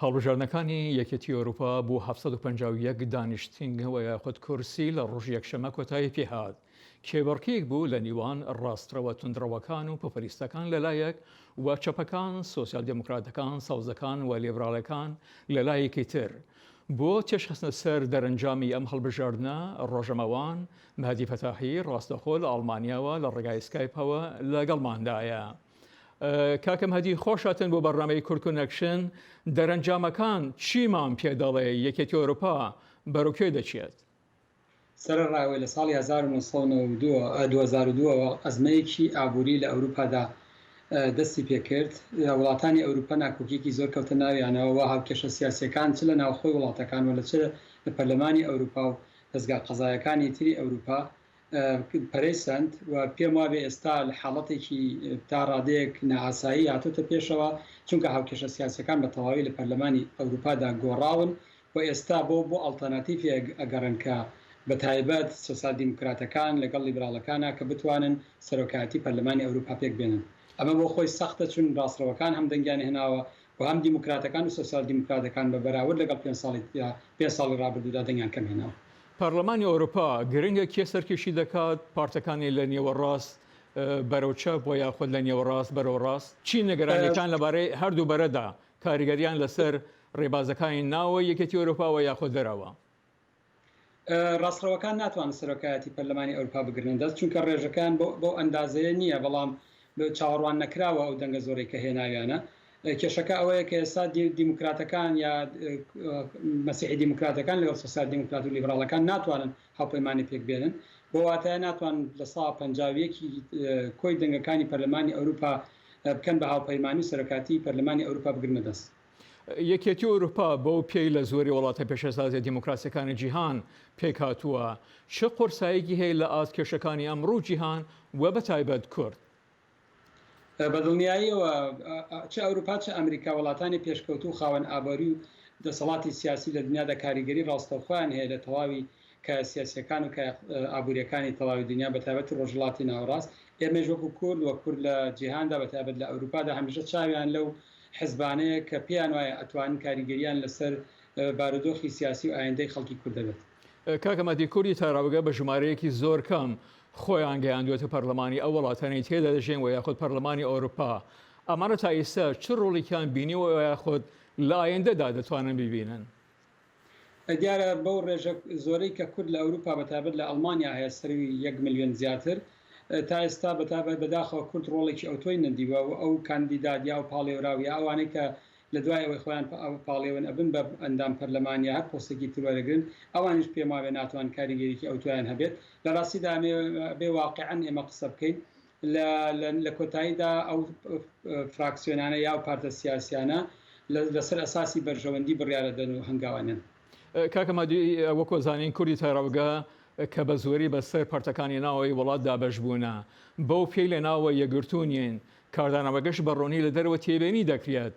هەڵبژاردنەکانی یەکێتی ئەوروپا بۆ هەفت سەد و پەنجا و یەک دانیشتنگەوە یاخود کورسی لە ڕۆژی یەکشەمە کۆتایی پێهات، کێبڕکێیەک بوو لە نیوان ڕاستڕەوە توندڕەوەکان و پۆپۆلیستەکان لەلایەک و چەپەکان، سۆسیال دێموکراتەکان، سەوزەکان و لیبراڵەکان لە لایەکی تر. بۆ تێشخستنە سەر دەرەنجامی ئەم هەڵبژاردنە، ڕۆژەمەوان مەهدی فەتاحی ڕاستەخۆ لە ئەڵمانیاوە لە ڕێگای سکایپەوە لەگەڵماندایە. کاکە مهدی خۆش هاتن بۆ بەرنامەی کورد کونەکشن دەرەنجامەکان چیمان پێ دەڵێ یەکێتی ئۆروپا بەرەو کوێ دەچێت؟ سەرەڕای ئەوەی لە ساڵی هەزار و نۆ سەد و نەوەد و دوو دوو هەزار و دوو ەوە ئەزمەیەکی ئابووری لە ئەوروپادا دەستی پێکرد وڵاتانی ئەوروپا ناکۆکیەکی زۆر کەوتە ناویانەوە وە هاوکێشە سیاسیەکان چ لە ناوخۆی وڵاتەکان وە لە چ لە پەرلەمانی ئەوروپا و دەزگا قەزایەکانی تری ئەوروپا پەرەی سەند و پێم وابێ ئێستا حاڵەتێکی تا ڕادەیەک نائاسایی هاتۆتە پێشەوە، چونکە هاوکێشە سیاسیەکان بە تەواوی لە پەرلەمانی ئەوروپادا گۆڕاون و ئێستا بۆ بۆ ئەڵتەرناتیڤێک ئەگەڕێن کە بە تایبەت سۆسیال دیموکراتەکان لەگەڵ لیبراڵەکانا کە بتوانن سەرۆکایەتی پەرلەمانی ئەوروپا پێک بێنن. ئەمە بۆ خۆی سەختە چون ڕاستڕەوەکان هەم دەنگیان هێناوە و هەم دیموکراتەکان و سۆسیال دیموکراتەکان بە بەراورد لەگەڵ پێنج ساڵی پێنج ساڵی ڕابردوودا دەنگیان کەم هێناوە. پەرلەمانی ئەوروپا گرنگە کێ سەرکێشی دەکات، پارتەکانی لە نێوەڕاست بەرەو چەپ وە یاخود لە نێوەڕاست بەرەو ڕاست؟ چی نیگەرانیتان لەبارەی هەردوو بەرەدا، کاریگەریان لەسەر ڕێبازەکانی ناوەوەی یەکێتی ئەوروپا وە یاخود دەرەوە؟ ڕاستڕەوەکان ناتوانن سەرۆکایەتی پەرلەمانی ئەورپا بگرنە دەست چونکە ڕێژەکەیان بەو ئەندازەیە نیە بەڵام چاوەڕوان نەکراوە ئەو دەنگە زۆرەی کە هێناویانە. کێشەکە ئەوەیە کە ئێستا دیموکراتەکان یا مەسیحی دیموکراتەکان لەگەڵ سۆسیال دیموکرات و لیبراڵەکان ناتوانن هاوپەیمانی پێک بێنن، بەو واتایە ناتوان لە سەدا پەنجا و یەک ی کۆی دەنگەکانی پەرلەمانی ئەوروپا بکەن بە هاوپەیمانی و سەرۆکاتیی پەرلەمانی ئەوروپا بگرنە دەست. یەکێتی ئەوروپا بەو پێی لە زۆری وڵاتە پێشەسازیە دیموکراسیەکانی جیهان پێکهاتووە، چ قورسایەکی هەیە لە ئاست کێشەکانی ئەمڕو جیهان و بەتایبەت کورد؟ بەدڵنیاییەوە چ ئەوروپا چ ئەمریکا وڵاتانی پێشکەوتوو خاوەن ئابوری و دەسەڵاتی سیاسی لە دنیادا کاریگەری ڕاستەوخۆیان هەیە لە تەواوی کایە سیاسییەکان و کایە ئابوورییەکانی تەواوی دنیا بە تایبەتی ڕۆژهەڵاتی ناوەڕاست، ئێمەیش وەکوو کورد و کورد لە جیهاندا بە تایبەت لە ئەورووپادا هەمیشە چاویان لەو حزبانەیە کە پێیان وایە ئەتوانن کاریگەرییان لەسەر بارودۆخی سیاسی و ئایندەی خەڵکی کورد هەبێت. کاک مەهدی کوردی تاراوگە بە ژمارەیەکی زۆر کەم خۆیان گەیاندووەتە پەرلەمانی ئەو وڵاتانەی تێدا دەژین و یاخود پەرلەمانی ئەورووپا، ئەمانە تا ئیستا چ ڕۆڵیکیان بینیوە و یاخود لە ئایندەدا دەتوانن بیبینن؟ دیارە بەو ڕێژە زۆرەی کە کورد لە ئەوروپا بە تایبەت لە ئەڵمانیا هەیە سەرووی یەک ملیۆن زیاتر تا ئێستا بە تایبەت بەداخەوە کورد ڕۆڵێکی ئەوتۆی نەدیوە و ئەو کاندیداد یا ئەو پاڵێوراو یا ئەوانەی کە لە دوای ئەوەی خۆیان پاڵێون ئەبن بە ئەندام پەرلەمان یا هەر پۆستێکی تر وەرەگرن ئەوانیش پێماوێ ناتوان کاریگەریی ئەوتۆیان هەبێت لە ڕاستیدا ئەمێ بێ واقعەن ئێمە قسە بکەین لە لە کۆتاییدا ئەو فراکسیۆنانە یاو پارتە سیاسیانە لە سەر ئەساسی بەرژەوەندی بڕیارە دەن و هەنگاوەنەن. کاک مادی وەکو ئەزانین کوردی تاراوگە کە بە زۆری بە سەر پارتەکانی ناوەوەی وڵات دابەش بوونە بەو پێی لە ناوەوە یەکگرتوو نین کاردانەوەگەش بە ڕوونی لە دەرەوە تێبێنی دەکرێت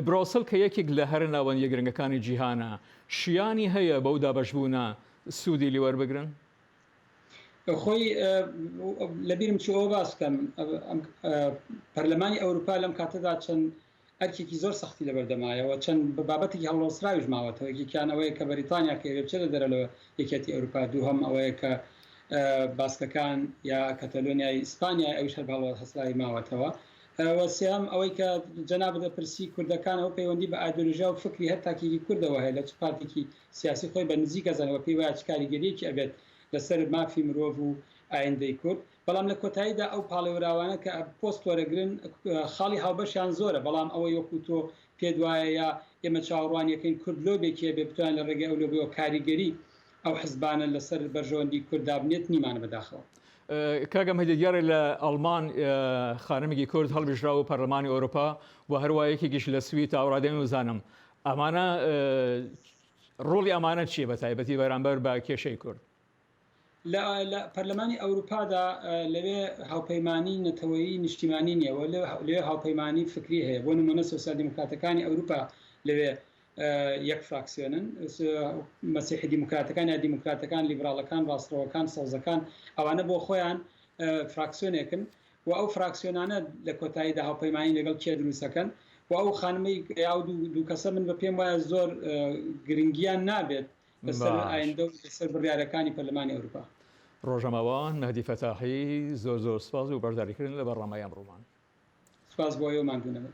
برۆسل کە یەکیک لە هەرە ناوەندیە گرنگەکانی جیهانە شیانی هەیە بەو دابەش بوونە سوودی لێ وەربگرن؟ خۆی لەبیرم چوو ئەوە باس بکەم پەرلەمانی ئەوروپا لەم کاتەدا چەند ئەرکێکی زۆر سەختی لەبەردەمایەوە چەند بە بابەتێکی هەڵنەوەسراویش ماوەتەوە یەکێکیان ئەوەیە کە بەریتانیا کە ئێرێ بچێتە دەرە لە یەکێتی ئەوروپا دووهەم ئەوەیە کە باسکەکان یا کەتەلۆنیای ئیسپانیای ئەویش هەر باڵەوە هەسراوی ماوەتەوە وەسیام ئەوەی کە جەناب دەپرسی کوردەکان ئەو پەیوەندی بە ئایدۆلژیا و فکری هەر تاکێکی کوردەوە هەیە لە چ پارتێکی سیاسی خۆی بە نزیک ئەزانێت و پێی وایە چ کاریگەرییەکی ئەبێت لەسەر مافی مرۆڤ و ئایندەی کورد، بەڵام لە کۆتاییدا ئەو پاڵێوراوانە کە پۆست وەرەگرن خاڵی هاوبەشیان زۆرە، بەڵام ئەوەی وەکو تۆ پێت وایە یا ئێمە چاوەڕوانیەکەین کورد لۆبێکی هەبێت بتوانێت لە ڕێگەی ئەو لۆبیەوە کاریگەری ئەو حزبانە لەسەر بەرژەوەندی کورد دابنێت نیمانە بەداخەوە. کاک ئەمە دیارە لە ئەڵمان خانمێکی کورد هەڵبژراوە بۆ پەرلەمانی ئەوروپا و هەروا یەکێکیش لە سوید تاوەڕادەیەم وزانم ئەمانە ڕۆڵی ئەمانە چیە بە تایبەتی بەرامبەر بە کێشەی کورد؟ لە پەرلەمانی ئەوروپادا لەوێ هاوپەیمانی نەتەوەیی نیشتیمانی نیە و لەوێ هاوپەیمانی فکری هەیە بۆ نمونە سۆسیال دیموکراتەکانی ئەوروپا لەوێ یەک فراکسیۆنن مەسیحی دیموکراتەکان یا دیموکراتەکان لیبراڵەکان ڕاستڕەوەکان سەوزەکان ئەوانە بۆ خۆیان فراکسیۆنێکن و ئەو فراکسیۆنانە لە کۆتاییدا هاوپەیمانی لەگەڵ کێ دروست ئەکەن و ئەو خانمەی ئەو دوو کەسە من بە پێم وایە زۆر گرنگیان نابێت لەسەر ئایندە و لەسەر بڕیارەکانی پەرلەمانی ئەوروپا. ڕۆژنامەوان، مەهدی فەتاحی، زۆر زۆر سوپاس بۆ بەشداریکردن لە بەرنامەی ئەمڕۆمان. سوپاس بۆ ئێوە، ماندوو نەبن.